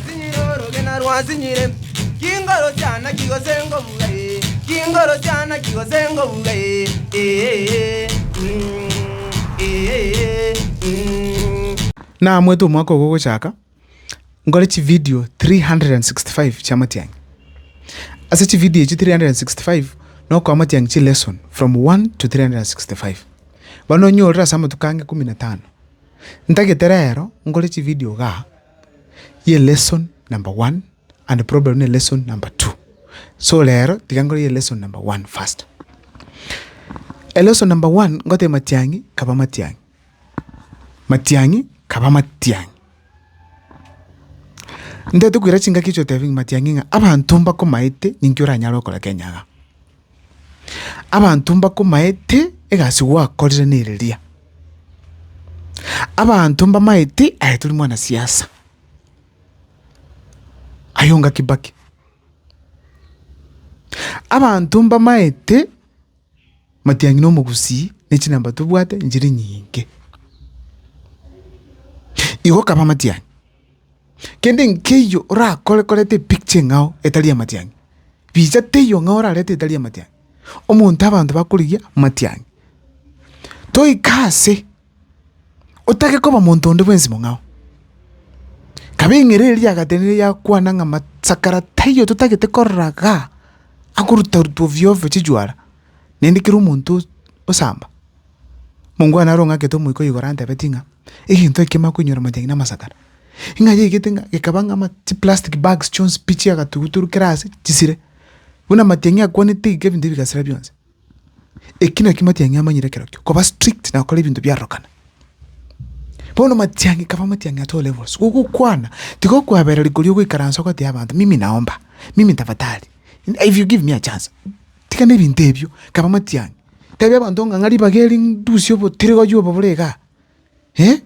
Sinyire orogena rwa sinyire, chingoro chiana chigose ngobuga ee, chingoro chiana chigose ngobuga ee, ee, mm, ee, mm. Naamwete omwaka ogo ogochaka, nkore chividio 365 chi'amatiang'i. Ase chividio echio 365 nokoa amatiang'i chilesson from 1 to 365. Bono onyorire ase amatuko ange ikomi na tano. Ntagete rero nkore chividio igaa. ye lesson number one and problem ne lesson number two. So rero tiga nkore ye lesson number one first. Elesson number one ngoteba matiang'i kaba matiang'i, matiang'i kaba matiang'i. Ntaete koira chingaki echi otebia ng'a matiang'i ng'a abanto mbakomaete ninki oranyare okora Kenya igaa. Abanto mbakomaete egasi gwakorire nereria. Abanto mbamaete aye tori mwana siasa. Ayonga Kibaki. Abanto mbamaete matianyi na omogusii ne chinamba tobwate nchiri nyinge. Igo kaba matianyi. Kende nkeiyo orakore koreta epicture eng'ao etari amatiang'i, richa teiyo ng'ao orarete etari amatiang'i, omonto abanto bakorigia amatiang'i. Toika ase, otake koba monto onde bwensi mong'ao, kaba eng'ereri eria yagatenenire yakwana ng'a masakara taiyo totagete korora igaa, akorutaruta ovyo ovyo chichwara, naende kera omonto osamba. Mongwana are ong'akete omoika o igoro antebetie ng'a egento eke kemana koinyora amajani na amasakara, ing'ayeigete ng'a gekaba ng'a ama chiplastic bags chionsi pi chia agatuguturu kera ase chisire, buna amatiang'i akwanete iga ebinto bigasira bionsi. Eki nakio amatiang'i amanyire ekero ekio, koba strict na gokora ebinto biarorokana. Bono amatiang'i kaba amatiang'i at all levels, gogokwana tiga okoabereri koria ogoikaransa ogotebi abanto mimi naomba, mimi tafadhali, if you give me a chance. Tiga nebinto ebio, kaba amatiang'i, tebia abanto ng'a ng'a ribaga eri ndusie obotirigori obo bore igaa,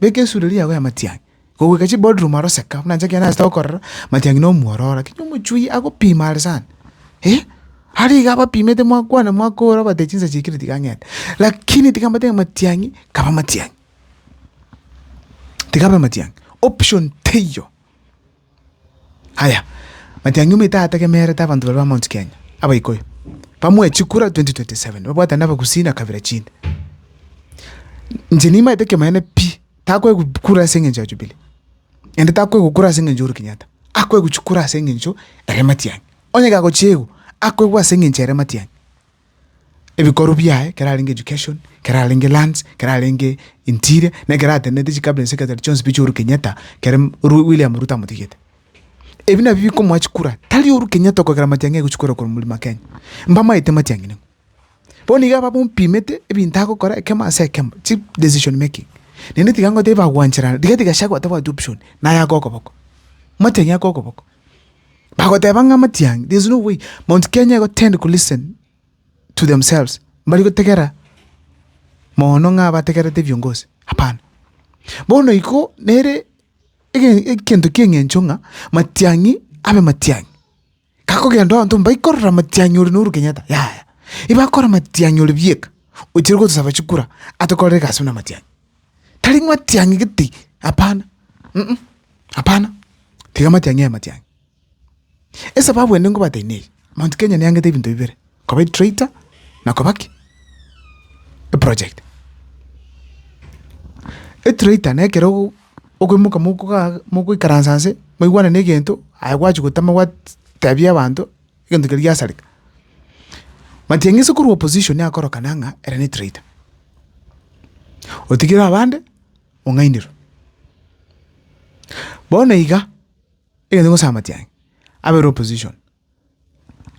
beka esureri yago y'amatiang'i. Goika chiboardroom aro seka buna inche ekero nachete gokorera, amatiang'i na omwororo, lakini omochwi agopima are sana, are iga abapimete mwakwana mwakora obatebia chinsa chiaikire tiga ng'ende. Lakini tiga mbatebi ng'a amatiang'i, kaba amatiang'i, tiga abe amatiang'i, option teiyo. Aya, matiang'i omoito ategemerete abanto baria ba Mount Kenya, Abaikuyu, bamoe chikura 2027, babwatane na Abagusii na kabira chinde. Inche nimaete ekioma gene pi, takoegwa kura ase eng'encho ya Jubilee, naende takoegwa kura ase eng'encho ya Uhuru Kenyatta, akoegwa chikura ase eng'encho ere matiang'i. Onye gagochiegwa, akoegwa ase eng'encho ere matiang'i. ebikorwa biaye, ekero arenge education, ekero arenge lands, ekero arenge interior, na ekero atenenete chicabinet secretary chionsi pi chiaOhuru Kenyatta kere Ru- William Ruto amotigete. Ebi nabio bikomoa chikura, tari Ohuru Kenyatta okogera matiang'i aigwe chikura korwa Mlima Kenya. Mbamaete matiang'i ning'o. Bono iga babompimete ebinto agokora ekemo ase ekemo, chi decision making. Naende tiga ngotebi bagwancherana, rigathi Gachagua tabwati option, naye ake okoboko. Matiang'i ake okoboko. bagoteba ng'a amatiang'i there is no way Mount Kenya igo tend ko listen to themselves mbari gotegera moono ng'a bategerete ebiongozi hapana. Bono igo nere ege egento ki'eng'encho ng'a matiang'i abe matiang'i, gakogenda abanto mbakorora matiang'i ore na Uhuru Kenyatta yaya, ebakora matiang'i ore bieka ochire gotosaba chikura atokorere egasi buna matiang'i. tari ng'a matiang'i gete, hapana, uh-uh, hapana, tiga amatiang'i aye matiang'i. Esababu ende ngobatebi neye, Mount Kenya neangete ebinto bibere, koba etractor na koba ki? eproject. Etractor na ekero ogo- okoimoka mokogaa mogoikaransa nse, mwaigwana na egento, aye gwachia gotema gwat tebia abanto. egento keria giasareka. Matiang'isi korwa opposition akorokana ng'a ere ne traitor. Otigire abande ong'ainerwe. Bono iga, egento nkogosaba matiang'i, abere opposition,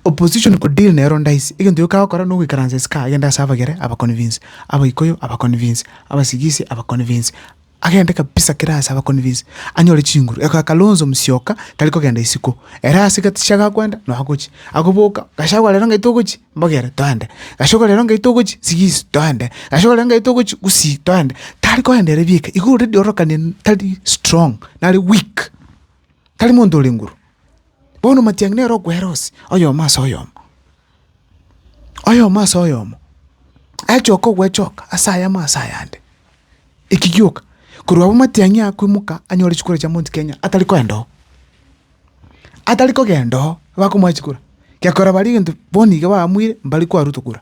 opposition ko deal nero ndaisi, egento gioka agokora nogoikaransa isiko agende ase abagere aba convince, abaikuyu aba convince, abasigisi aba convince. Agende kabisa kera aase abaconvince anyore chinguru. Eka Kalonzo Musyoka tari kogenda isiko. Ere ase gaticha gakwenda nonya gochia. Agoboka, Gachagua rero ng'ai togochia? Mbogere, Toende. Gachagua rero ng'ai togochia? Sigisi, Toende. Gachagua rero ng'ai togochia? Gusii, Toende. Tari kogenda ere bieka. Igo already ororokanire tari strong, nare weak. Tari monto ore nguru. Bono matiang'i nere okwera ose, oyomo ase oyomo. oyomo ase oyomo achoka ogwechoka ase ayamo ase ayande, eki gioka korwa abwo matiang'i akoimoka anyore chikura chia Mount Kenya atari koenda oo, atari kogenda oo bakomoa chikura, gekora baria egento bono iga bamwire mbari koa Ruto kura.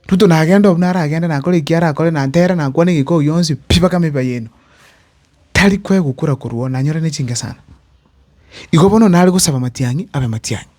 Ruto nagende obuna aragende nakore eki arakore na ntere na kwane egekoo oi yonsi pi mpaka meba yaino, tari koegwa kura korwa oo nanyore ne chingesana. Igo bono nare gosaba matiang'i abe matiang'i.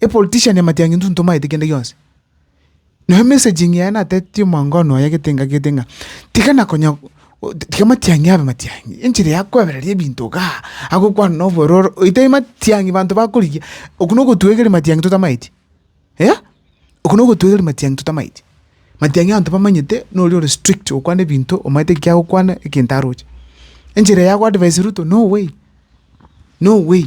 epolitician amatiangi intwe ntomaete kende gionsi. Nabo emessaging yaye natetetie omwango one oye gete ng'a gete ng'a tiga na konya tiga amatiangi abe matiangi, enchera ya koebereria ebinto igaa, agokwana na obororo oite matiangi banto bakorigia, okwo na ogotwegeria matiangi totamaeti eh, okwo na ogotwegeria matiangi totamaeti. Matiangi abanto bamanyete na oria ore strict okwana ebinto omanyete eki agokwana egento aroche. Enchera ya go advise Ruto no way, no way.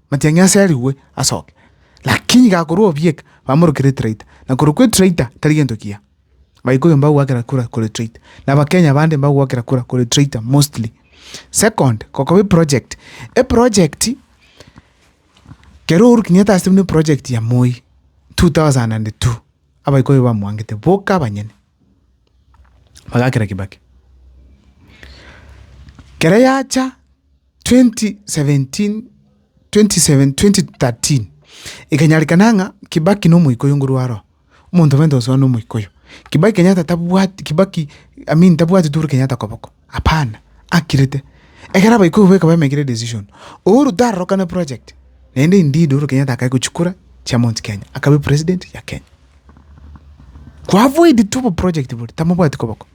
Matiang'i aserigwe asoke, lakini iga akorwa obieka, bamorokere etraita, na korwa kwa etraita tari gento kiya. Abaikuyu mbagwakera kura korwa etraita, na Abakenya bande mbagwakera kura korwa etraita mostly. Second, gokoba eproject, eproject kero Uhuru Kenyatta asete buna eproject ya Moi two thousand and two, Abaikuyu bamwangete boka abanyene, bagakera Kibaki. Kere yacha. 2017/2013 Ekanyarekana ng'a Kibaki nomoika oyo nguru aro omonto obe ntosoa nomoika oyo Kibaki Kenyatta tabwati Kibaki I mean tabwati Uhuru Kenyatta koboko hapana akirete ekero abaika obo ekaba emekire decision Uhuru tarorokane project naende indeed Uhuru Kenyatta akae gochia kura chia Mount Kenya akabe president ya Kenya ko avoid tu oboproject boria tamobwati koboko.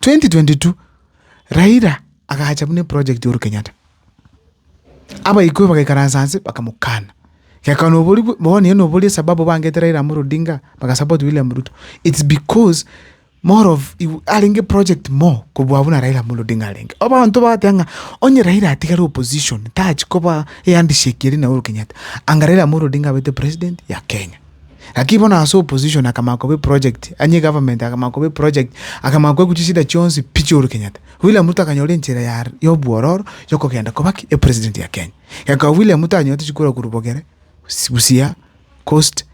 2022 Raila agacha buna eproject y'Ohuru Kenyatta, abaikoi bagaikaransa anse bakamokana, geka nobori bwe bono eye nobori esababu bangete Raila Amolo Odinga bagasupport William Ruto, it's because more of igo arenge project more kobua buna Raila Amolo Odinga arenge. Abanto bagoteeba ng'a onye Raila atigare opposition tachi koba ehandshake eria na Uhuru Kenyatta, anga Raila Amolo Odinga abete president ya Kenya. Lakini bono ase opposition akamanya koba eproject, onye egovernment akamanya koba eproject, akamanya koegwa chisida chionsi pi chia Uhuru Kenyatta. William Ruto akanyora enchera ya ya obwororo ya okogenda koba ki? Epresident ya Kenya. Ekaba William Ruto anyorete chikurwa korwa Bogere, Busi Busia, Coast,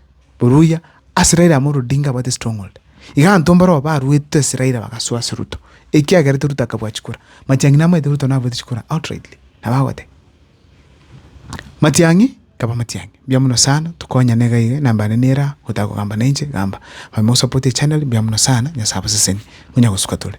Oruya, ase Raila Amolo Odinga abwate stronghold. Iga abanto mbarobwo baruete ase Raila bagasoa ase Ruto, ekiagerete Ruto akabua chikura. Matiang'i namaete Ruto naruete chikura outrightly, nabo agoteba. Matiang'i kaba matiang'i, mbuya mono sana tokonyane iga iga, enamba yane nere aa gotaka kogamba na inche gamba. Manye mosapote echaneri mbuya mono sana, Nyasae abasesenie, monyagosukwa tore.